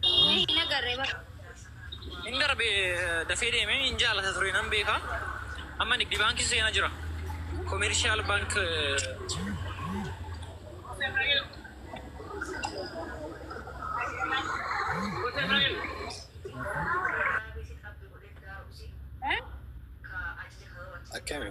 Hin agarre bara. Hin darbe dafee deeme hin jaalata ture nan beeka. Amma nigdi baankii seena jira. Komeershaal baank akkami?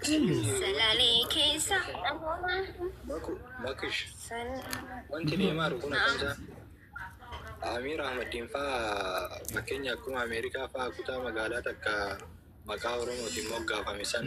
Salalee keessa namoota Baku, Bakish. Wanti deemaa jiru kun akkamisaa? Amiir Ahmadiin faa fakkeenya akkuma Ameerikaa faa kutaa magaalaa takka maqaa Oromootiin moggaafame san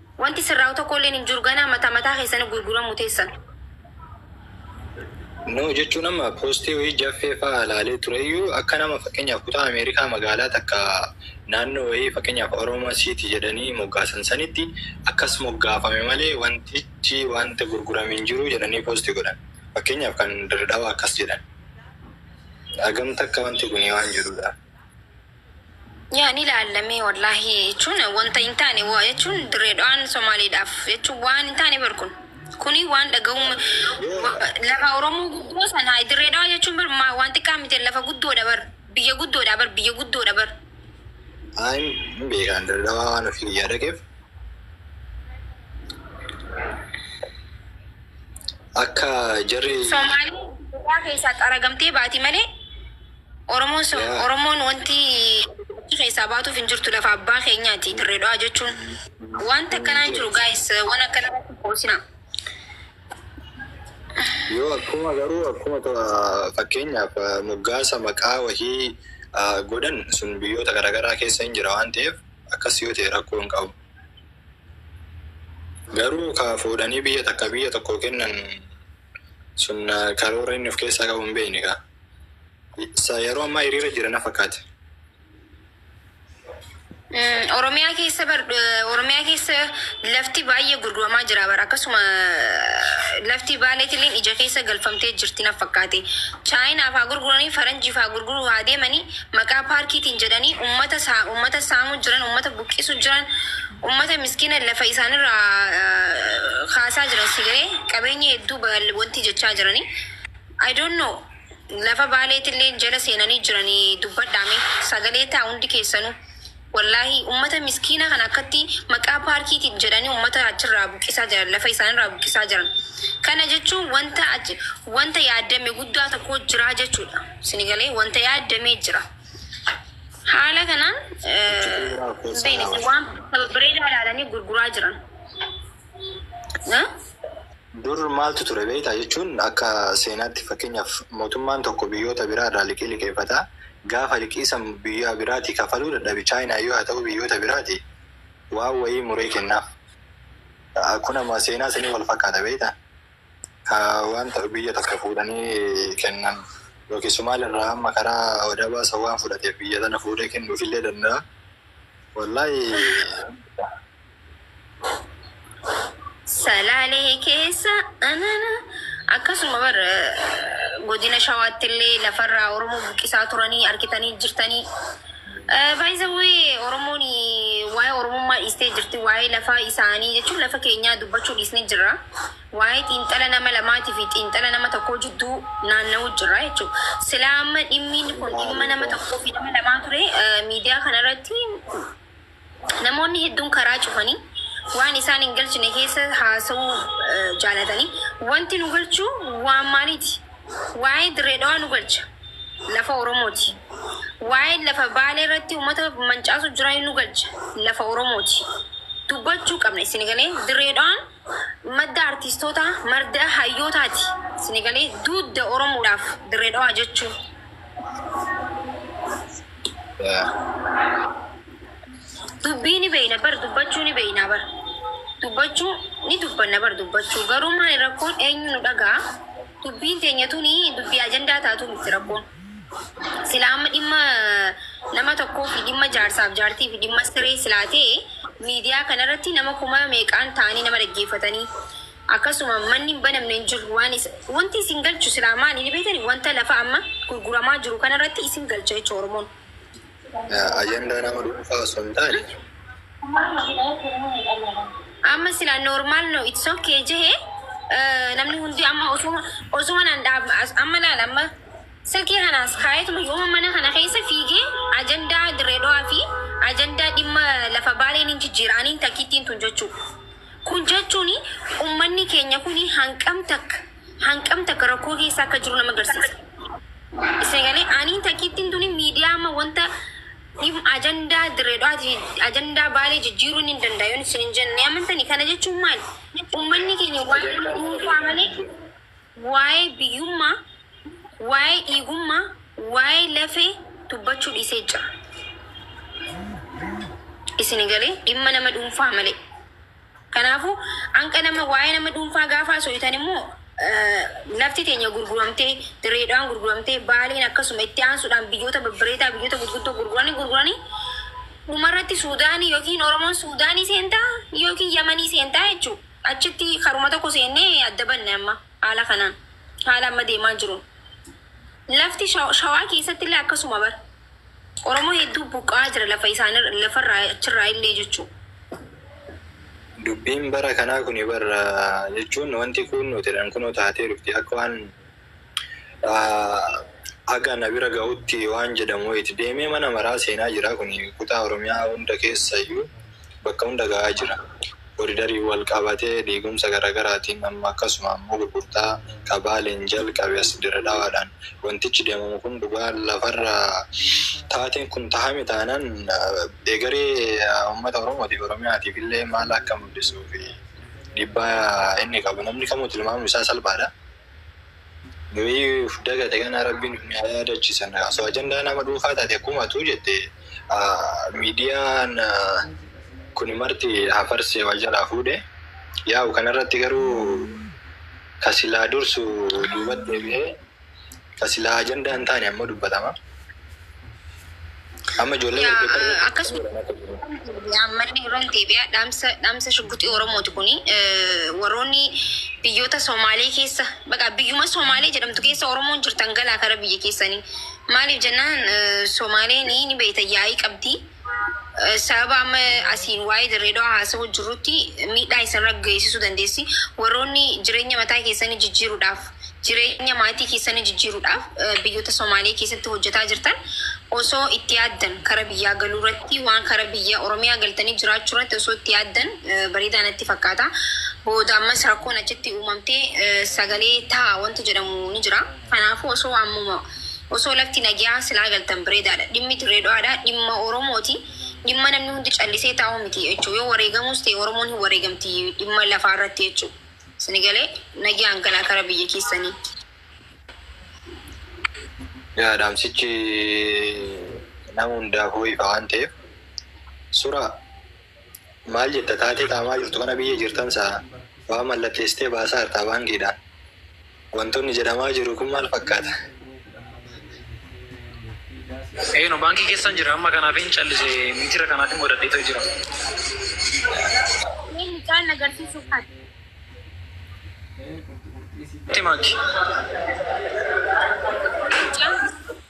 Wanti sirraa'u tokkoolleen hin jiru ganaa mataa mataa keessani gurguramu teessan. No jechuun amma post wayii jaffee fa'a laalee tureyyuu akka nama fakkeenyaaf kutaa America magaalaa takka naannoo wayii fakkeenyaaf Oroma city jedhanii moggaasan sanitti akkas moggaafame malee wantichi wanta gurgurame hin jiru jedhanii post godhan fakkeenyaaf kan Dirredhawa akkas jedhan hagam takka wanti kuni waan jirudha. Yaa ni laallamee wallaahi jechuun wanta hin taane waa jechuun dirree dhawaan Somaaliidhaaf jechuun waan hin taane bar kun. Kuni waan dhaga'uun lafa Oromoo guddoo sana dirree dhawaa jechuun bar maa- waan xiqqaa miti lafa guddoodha bar biyya guddoodha bar biyya guddoodha bar. Ayi hin beekaan daldalaa waan ofii biyyaa dhaqeef. Akka jarri Somaaliin biyyaa keessaa xaragamtee baati malee Oromoon so Yeah. Oromoon wanti achi keessaa baatuuf hin jirtu lafa abbaa keenyaati dirree dhawaa jechuun wanta akkanaa hin jiru gaayis waan akkana irratti qoosina. Yoo akkuma garuu akkuma ta- fakkeenyaaf eh, moggaasa maqaa wahii eh, godhan sun biyyoota garaagaraa keessa hin jira waan ta'eef akkas yoo ta'e rakkoo hin qabu. Garuu ka fuudhanii biyya takka biyya tokko kennan sun eh, karoora inni of keessaa qabu hin beekne kaa. Sa yeroo ammaa hiriira jira na fakkaata. Mm, Oromiyaa keessa bar eh, Oromiyaa keessa lafti baay'ee gurguramaa jira bara akkasuma eh, lafti baaleetilleen ija keessa galfamtee jirti na fakkaate. Chaayinaaf haa gurguranii faranjiif haa gurguruu haa deemanii maqaa paarkiitiin jedhanii ummata saa ummata saamuu jiran ummata buqqisuu jiran ummata miskiina lafa isaanirraa eh, kaasaa jiran sigaree qabeenya hedduu bal- wanti jechaa jiranii. I don't know lafa baaleetilleen jala seenanii jirani dubbadhaa mee sagalee ta'a hundi keessanu wallahi ummata miskiina kana akkatti maqaa paarkiitiin jedhanii ummata achirraa buqqisaa jiran lafa isaanirraa buqqisaa jiran kana jechuun wanta achi wanta yaaddame guddaa tokko jiraa jechuudha sinigalee wanta yaaddamee jira haala kanaan Achi eh, bu'uuraa of keessaa hin beekne laawa. waan bareedaa ilaalanii gurguraa jiran. Eh? Dur maaltu ture beektaa? jechuun akka seenaatti fakkeenyaaf mootummaan tokko biyyoota biraa irraa liqii liqeeffata. Gaafa liqii san biyyaa biraatii kafaluu dadhabe Chaayinaa yoo haa ta'uu biyyoota biraatii waan wayii muree kennaaf. Kun amma seenaa sanii wal fakkaata beektaa? Ka waan ta- biyya takka fuudhanii kennan yookiin Somaal irraa amma karaa wadabaa san waan fudhateef biyya tana fuudhee kennuufillee danda'a. Wallaahi Salaalee keessa anana akkasuma bar godina shawaatti illee lafarraa Oromoo buqqisaa turanii argitanii jirtanii. Baay'isawwee Oromoon waa'ee Oromummaa dhiistee jirti waa'ee lafaa isaanii jechuun lafa keenyaa dubbachuu dhiisnee jirra. Waa'ee xiinxala nama lamaatii fi xiinxala nama tokkoo jidduu naanna'uu jirra jechuudha. Silaa amma dhimmiin kun dhimma nama tokkoo fi nama lamaa ture miidiyaa kanarratti Namoonni hedduun karaa cufanii waan isaan hin galchine keessa haasa'uu jaalatanii wanti nu galchu waan maaliiti? Waa'een Dirree Dhawaa nu galcha. Lafa Oromooti. Waa'een lafa Baalee irratti uummata mancaasuu jiraa nu galcha. Lafa Oromooti. Dubbachuu qabna isin galee Dirree Dhawaan madda artiistootaa, marda hayyootaati. Sini galee duudda Oromoodhaaf Dirree Dhawaa jechuun. Dubbii ni beeyna bar dubbachuu ni beeynaa bar dubbachuu ni dubbanna bar dubbachuu garuu maali rakkoon eenyu nu dhaga'a dubbiin teenya tuni dubbii ajandaa taatu mitti rakkoon. Silaa amma dhimma nama tokkoo fi dhimma jaarsaa fi jaartii fi dhimma siree silaa ta'e miidiyaa kana irratti nama kuma meeqaan ta'anii nama dhaggeeffatanii akkasuma manni hin banamne hin jiru waan isa wanti isin galchu silaa maali ni beektani wanta lafa amma gurguramaa jiru kana irratti isin galcha jecha Oromoon. Ajandaa nama dhuunfaa osoo hin taane. Amma sila normal no it's okay jehe namni hundi amma osuma osuma nan dhaab amma laal amma silkii kanaas kaayetuma yooma mana kana keessa fiigee ajandaa direedowaa fi ajandaa dhimma lafa baaleen hin jijjiira aniin takkittiin tun jechuu kun jechuun ummanni keenya kun hanqam takka Hanqam takka rakkoo keessa akka jiru nama garsiisa. Isni galee aniin takkiittiin tuni miidiyaa amma wanta dhim ajandaa dirree dhawaati ajandaa baalee jijjiiruu ni danda'a yoon isin hin jenne amantani kana jechuun maali ummanni keenya waa'ee nama dhuunfaa malee waa'ee biyyummaa waa'ee dhiigummaa waa'ee lafee dubbachuu dhiisee jira. Isni galee dhimma nama dhuunfaa malee. Kanaafuu hanqa nama waa'ee nama dhuunfaa gaafa haasooytan immoo lafti teenya gurguramtee, Dirree Dhawaan gurguramtee, Baaleen akkasuma itti aansuudhaan biyyoota babbareedaa biyyoota gurguddoo gurguranii gurguranii dhumarratti Suudaanii yookiin Oromoon Suudaanii seentaa yookiin Yamanii seentaa jechuu achitti karuma tokko seennee adda banne amma haala kanaan haala amma deemaa jiruun lafti Shawaa keessatti illee akkasuma bara. Oromoo hedduu buqqa'aa jira lafa isaanii lafarraa achirraa illee jechuu. Dubbiin bara kanaa kuni bar jechuun wanti kuunnootidhaan kunoo taatee dhufti akka waan haga na bira gahutti waan jedhamu wayiti deemee mana maraa seenaa jira kuni kutaa oromiyaa hunda keessayyuu bakka hunda ga'aa jira. Kooridariin wal qabatee diigumsa garagaraatiin amma akkasuma ammoo gurgurtaa ka Baaleen jalqabe as Diredhawaadhaan wantichi deemamu kun dhugaa lafarra taateen kun tahame taanaan egeree ummata Oromootiif, Oromiyaatiif illee maal akka mul'isuu fi dhiibbaa inni qabu namni kamuu tilmaamuun isaa salphaadha. Nuyi uf dagate kana rabbi nu haa yaadachisan osoo ajandaa nama dhuunfaa taate akkuma atuu jette miidiyaan kun marti hafarsee wal jalaa fuudhe yaa'u kanarratti garuu kasilaa dursu duubat deebi'ee kasilaa ajandaa hin taane ammoo dubbatama. Amma ijoollee Yaa, walqixxee ah, akkasuma ammallee irra deebi'aa dhaamsa dhaamsa shugguxii Oromooti kuni eh, warroonni biyyoota Somaalee keessa baqa biyyuma Somaalee jedhamtu keessa Oromoon jirtan galaa kara biyya keessanii maaliif jennaan eh, Somaaleen ni beeyta yaa'ii qabdi Sababa amma asiin waa'ee Dirreedawaa haasa'uu jirrutti miidhaa isinirra geessisuu dandeessi. Warroonni jireenya mataa keessanii jijjiiruudhaaf, jireenya maatii keessanii jijjiiruudhaaf eh, biyyoota Somaalee keessatti hojjetaa jirtan osoo itti yaaddan kara biyyaa galuu irratti waan kara biyya Oromiyaa galtanii jiraachuu irratti osoo itti yaaddan eh, bareedaa natti fakkaata. Booda ammas rakkoon achitti uumamtee eh, sagalee ta'a wanti jedhamu ni jira. Kanaafuu osoo ammuma osoo lafti nageyaa silaa galtan breedaadha. Dhimmi Dirree Dhawaadhaa dhimma Oromooti. Dhimma namni hundi callisee taa'u miti jechu. Yoo wareegamuus ta'e Oromoon hin wareegamti dhimma lafaa irratti jechu. Sini galee nageyaan galaa kara biyya keessanii. Yaa dhaamsichi nama hundaafuu ifa waan ta'eef. Sura. Maal jetta taatee xaamaa jirtu kana biyya jirtan sa, waa mallatteessitee baasaa jirtaa baankiidhaan. Wantoonni jedhamaa jiru kun maal fakkaata? Eeno baankii keessan jira amma kanaafin callise miitira kanaafin godhadheeto jira. Mee mucaan na garsiisu kan. Itti maakki. Mucaan.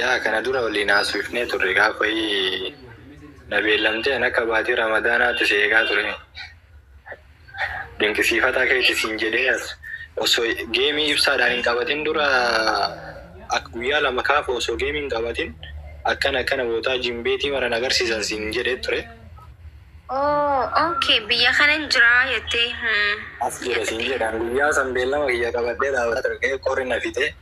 Yaa kana dura waliin haasofnee turre gaafa wayii na beellamtee an akka baatii ramadaanaatti si eegaa ture. Dinqisiifataa keeti siin jedhee as osoo geemii ibsaadhaan hin qabatin dura akka guyyaa lama kaafa osoo geemii hin qabatin akkana akkana bootaa jimbeetii maran agarsiisan siin jedhee ture. Oh ok biyya kanan jiraa jettee. As jira siin jedhe an guyyaa san beellama kiyya qabadhee dhaabadhee ture qori na fixee.